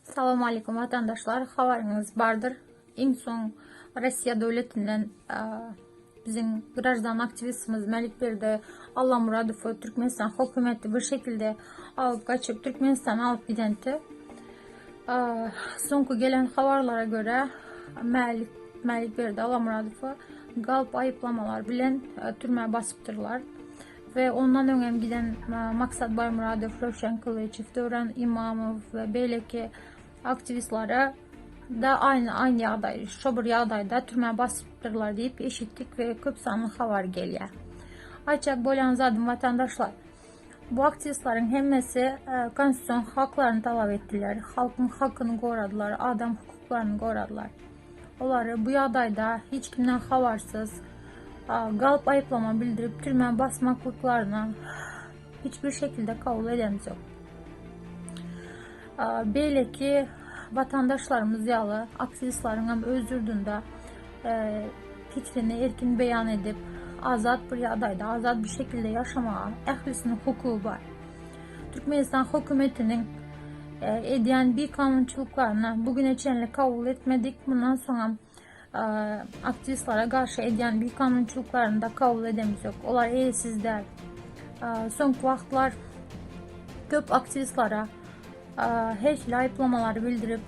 Salam aleykum vatandaşlar. Habaryňyz bardyr. Iň soň Russiýa döwletinden biziň grajdan aktiwistimiz Mälikberdi Allamuradowy Türkmenistan hökümeti bir şekilde alyp gaçyp Türkmenistana alyp gidende soňky gelen habarlara görä Mälik Mälikberdi Allamuradowy galp aýyplamalar bilen e, türmä basypdyrlar. we ondan öň hem giden Maksat Baýmyradow, Röwşen Kylyçow, Döwran Imamow we beýleki aktiwistlere da aýny aýny ýagdaý, şo bir ýagdaýda türmä basypdyrlar diýip eşitdik we köp sanly habar gelýär. Aýtjak bolýan zadym watandaşlar, bu aktiwistleriň hemmesi e, konstitusion haklaryny talap etdiler, halkyň hakyny goradylar, adam hukuklaryny goradylar. Olary bu ýagdaýda hiç kimden habarsyz, galp aýyplama bildirip türmä basmaklyklaryny hiç bir şekilde kabul edemzok. Beýleki watandaşlarymyz ýaly aktiwistleriň hem öz ýurdunda pikrini erkin beýan edip, azat bir ýagdaýda, azat bir şekilde ýaşamaga ählisiniň hukugy bar. Türkmenistan hökümetiniň edýän bikanunçylyklaryny bu güne çenli kabul etmedik. Mundan soňam aktivistlere garşy edýän bikanunçylyklaryny da kabul edemizok. Olar eýesiz däl. Soňky wagtlar köp aktivistlere her aýyplamalary bildirip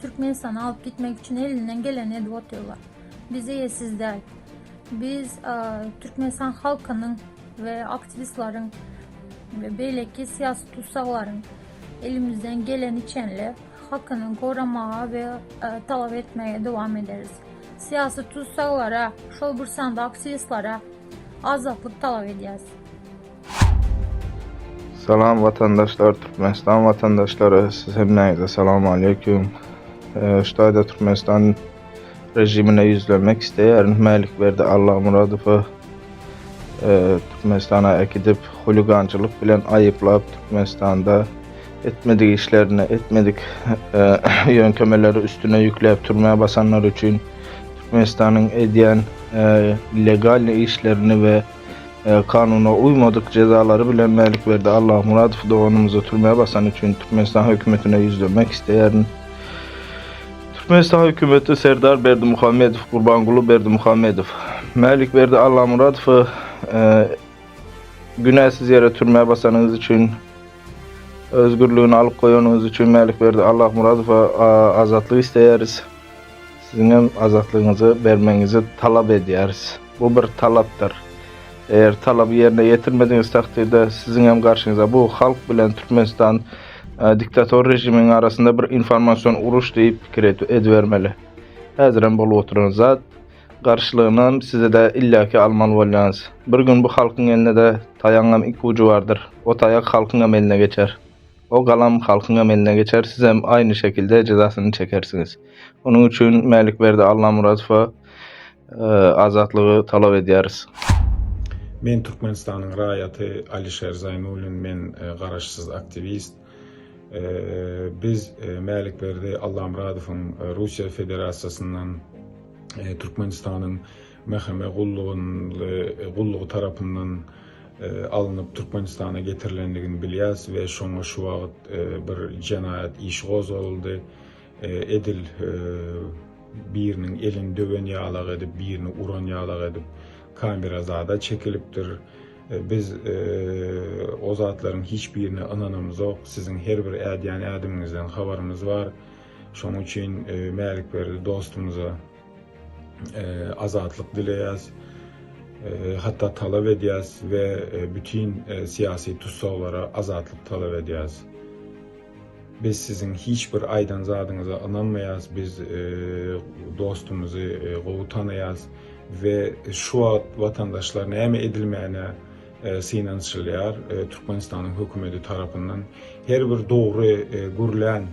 Türkmenistana alyp gitmek üçin elinden geleni edip oturýarlar. Biz eýesiz däl. Biz Türkmenistan halkynyň we aktiwistleriň we beýleki syýasy tussaglaryň elimizden geleni çenli hakyny goramaga we talap etmäge dowam ederis. Syýasy tussaglara, şol bir sanda aktiwistlere azatlyk talap edýäris. Salam watandaşlar, Türkmenistan watandaşlary, siz hemmäňize salam aleýkum. Şu taýda Türkmenistan režimine ýüzlenmek isleýärin. Mälikberdi Allamyradowy Türkmenistana äkidip, huligançylyk bilen aýyplap, Türkmenistanda etmedik işlerini, etmedik ýöntemeleri üstüne ýükläp türmä basanlar üçin Türkmenistanyň edýän legalny işlerini we kanuna uýmadyk jezalary bilen Mälikberdi Allahmyradow doganymyzy türmä basany üçin Türkmenistan hökümetine ýüzlenmek isleýärin. Türkmenistan hökümeti Serdar Berdimuhamedow, Gurbanguly Berdimuhamedow, Mälikberdi Allahmyradowy günäsiz ýere türmä basanyňyz üçin, özgürligini alyp goýanyňyz üçin Mälikberdi Allahmyradowa azatlyk isleýäris. Siziňem azatlygyňyzy bermegiňizi talap edýäris. Bu bir talapdyr. Eger talaby ýerine ýetirmedigiňiz takdirde siziňem garşyňyza bu halk bilen Türkmenistan diktator režiminiň arasynda bir informasion uruş diýip pikir edibermeli. Häzirem bolup oturan zat. Garşylygynam sizi-de illaki almaly bolýaňyz. Bir gün bu halkyň eline-de taýagyňam iki ujy bardyr. O taýak halkyňam eline geçer. O galam halkyňam eline geçer, sizem aýny şekilde jezasyny çekersiňiz. Onuň üçin Mälikberdi Allamyradowa azatlygy talap edýäris. Men Türkmenistanyň raýaty Alişer Zaýnullin, men garaşsyz aktiwist. Biz Mälikberdi Allamyradowyň Russiýa Federasiýasyndan Türkmenistanyň Mhme gullugynly gullugy tarapyndan alnyp Türkmenistana getirilendigini bilýäs we şoňa şu wagt bir jenaýat işi gozgalyldy. Edil biriniň elini döwen ýalak edip, birini uran ýalak edip kamera zada çekilipdir. Biz o zatlaryň hiç birine ynanamyzok. Siziň her bir ädýän ädimiňizden habarymyz bar. Şonuň üçin Mälikberdi dostumyza azatlyk dileýäs, hatda talap edýäs we bütin syýasy tussaglara azatlyk talap edýäs. Biz siziň hiç bir aýdan zadyňyza ynanmaýas, biz dostumyzy gowy tanaýas we şu wagt watandaşlar näme edilmegine synanyşylýar Türkmenistanyň hökümeti tarapyndan. Her bir dogry gürlän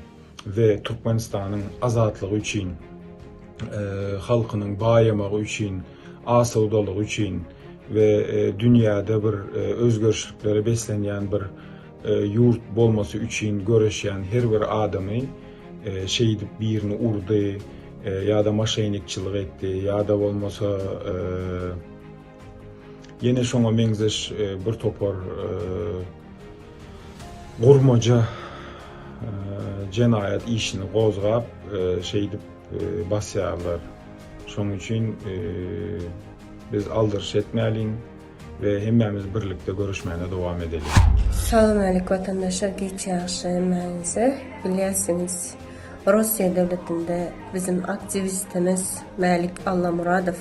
we Türkmenistanyň azatlygy üçin, halkynyň baýamagy üçin, asawdalygy üçin we dünýäde bir özgerişliklere beslenýän bir ýurt bolmasy üçin göreşýän her bir adamy şeýdip birini urdy ýa-da maşenikçilik etdi ýa-da bolmasa Ýene şoňa meňzeş bir topar gurmaja jenaýat işini gozgap, şeýdip basýarlar. Şonuň üçin biz aldyryş etmäliň we hemmämiz birlikde göreşmäne dowam edeliň. Salam aleýk watandaşlar geç ýagşy hemmäňize. Bilýärsiňiz Russiýa döwletinde bizim aktiwistimiz Mälik Allamuradow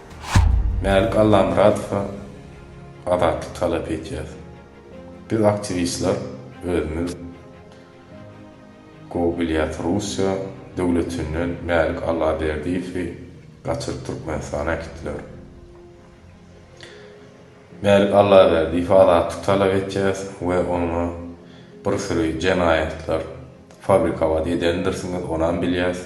Mälik Allamyradowa azatlyk talap edýär. Biz aktiwistler özümiz gowy bilýäs Russiýa döwletinden Mälik Allaberdiýewi gaçyryp Türkmenistana äkitdiler. Mälik Allaberdiýewi azatlyk talap edýäs we oňa bir süri jenaýatlar fabrikowat edendirsiňiz onam bilýäs.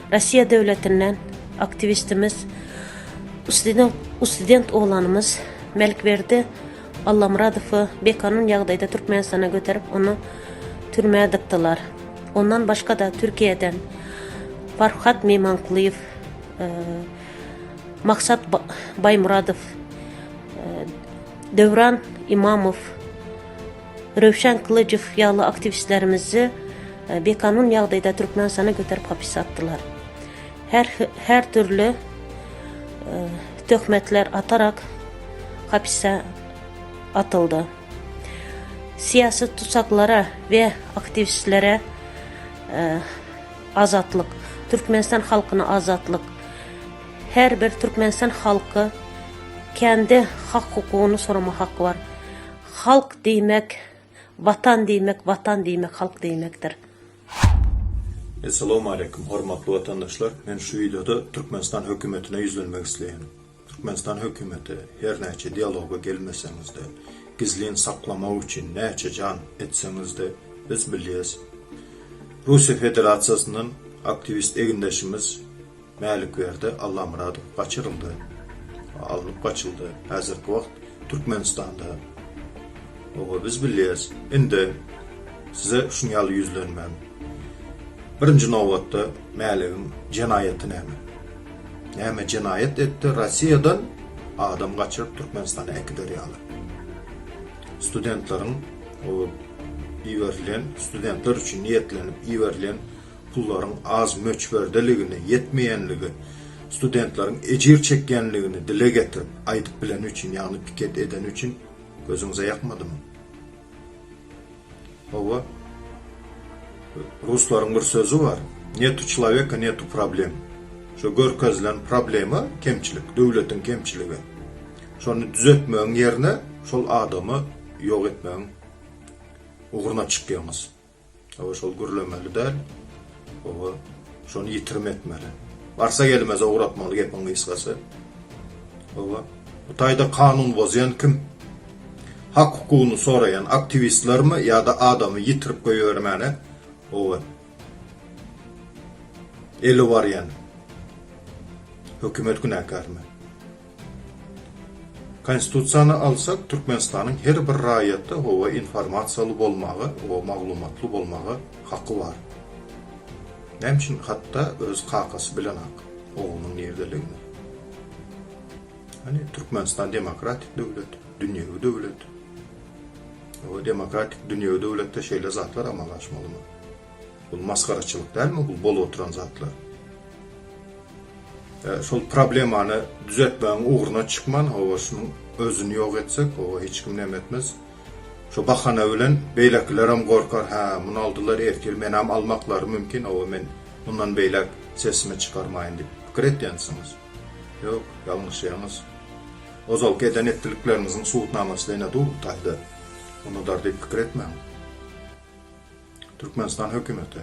Russiýa döwletinden aktiwistimiz, student oglanymyz Melkberdi Allamyradowy bikanun ýagdaýda Türkmenistana göterip, ony türmä dykdylar. Ondan başga-da Türkiýeden Farhat Memankulyýew, e, Maksat Baýmuradow, e, Döwran Imamow, Röwşen Kylyjow ýaly aktiwistlerimizi bikanun ýagdaýda Türkmenistana göterip hapysa atdylar. Her her dürli töhmetler atarak hapysa atyldy. Syýasy tutsaklara we aktiwistlere azatlyk, Türkmenistan halkyna azatlyk, her bir Türkmenistan halky kendi hak-hukugyny soramaga haky bar. Halk diýmek Watan diýmek Watan diýmek halk diýmekdir. Essalawmaleýkum hormatly watandaşlar men şu wideoda Türkmenistan hökümetine ýüzlenmek isleýän. Türkmenistan hökümeti her näçe dialoga gelmeseňizde gizlin saklamak üçin näçe jan etseňizde biz bilýäs Russiýa Federasiýasyndan aktiwist egindeşimiz Mälikberdi Allamyradow gaçyryldy, alnyp gaçyldy. Häzirki wagt Türkmenistanda. Oba biz bilýäris. Indi size şuny ýaly ýüzlenmän. Birinji nobatda Mäligiň jenaýaty näme? Näme jenaýat etdi Rossiýadan adam gaçyryp Türkmenistana äkider ýaly? Studentleriň o iberilen studentler üçin niýetlenip iberilen pullaryň az möçberdeligini, ýetmeýänligi, studentleriň ejir çekýänligini dile getirip, aýdyp bileni üçin, ýagny piket edeni üçin gözüňize ýakmadymy? Hawa. Ruslaryň bir sözi bar, Netu çloweka, netu problem. Şo görkezilen problema, kemçilik, döwletiň kemçiligi. Şony düzetmegiň ýerine, şol adamy ýok etmegiň ugruna çykýaňyz. Hawa şol gürlemeli däl. Hawa şony ýitirim etmeli. Barsa gelmez ugratmaly gepiň gysgasy. Hawa bu taýda kanun bozýan kim? Hak hukugyny soraýan aktiwistlermi ýa-da adamy ýitirip goýbermäne hawa eli barýan hökümet günäkärmi? Konstitusiýany alsak Türkmenistanyň her bir raýaty oa informasiýaly bolmaga oa maglumatly bolmaga haky bar. Näme üçin hatda öz kakasy bilenok oglunyň nirdeligini. Hany Türkmenistan demokratik döwlet, dünýewi döwlet. Oa demokratik dünýewi döwletde şeýle zatlar amala aşmalymy? Bul masgaraçylyk dälmi bul bolup oturan zatlar? Şol problemany düzeltmegiň ugruna çykman, hawa, şunuň özüni ýok etsek, hawa, hiç kim näme etmez. Şo bahana bilen beýlekilerem gorkar, hä, muny aldylar, ertir menem almaklary mümkin, hawa, men mundan beýläk sesimi çykarmaýyn diýip pikir edýänsiňiz. Ýok, ýalňyşýaňyz. Ozalky eden etdilikleriňiziň subutnamasy-da ine dur, taýda unudar diýip pikir etmäň. Türkmenistan hökümeti.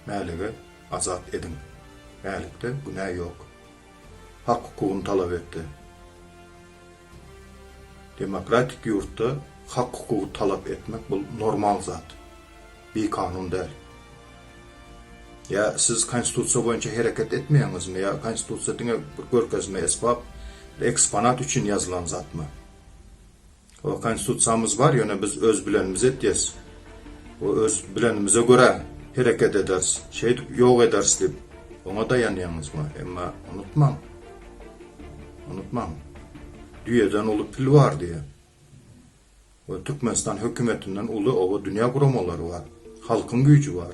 Mälige azat ediň. Mälikde günä ýok. Hak-hukugyny talap etdi. Demokratik ýurtda hak-hukugy talap etmek bul normal zat. Bi kanun däl. Ýa siz konstitusiýa boýunça hereket etmeýäňizmi ýa konstitusiýa diňe bir görkezme esbap, eksponat üçin ýazylan zatmy? O konstitusiýamyz bar ýöne biz öz bilenimizi etýäs we öz bilenimize görä hereket ederis şeýdip ýok ederis diýip oňa daýanýaňyzmy emma unutmaň unutmaň düýeden uly pil bar diýýär we türkmenistan hökümetinden uly oba dünýä guramalary bar halkyň güýji bar.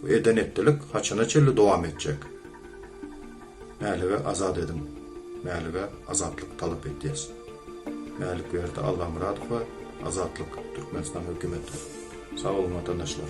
Bu eden-etdilik haçana çenli dowam etjek? Mälige azat ediň. Mälige azatlyk talap etýäs. Mälikberdi Allamyradowa Azatlyk Türkmenistan hökümeti. Sag boluň watandaşlar.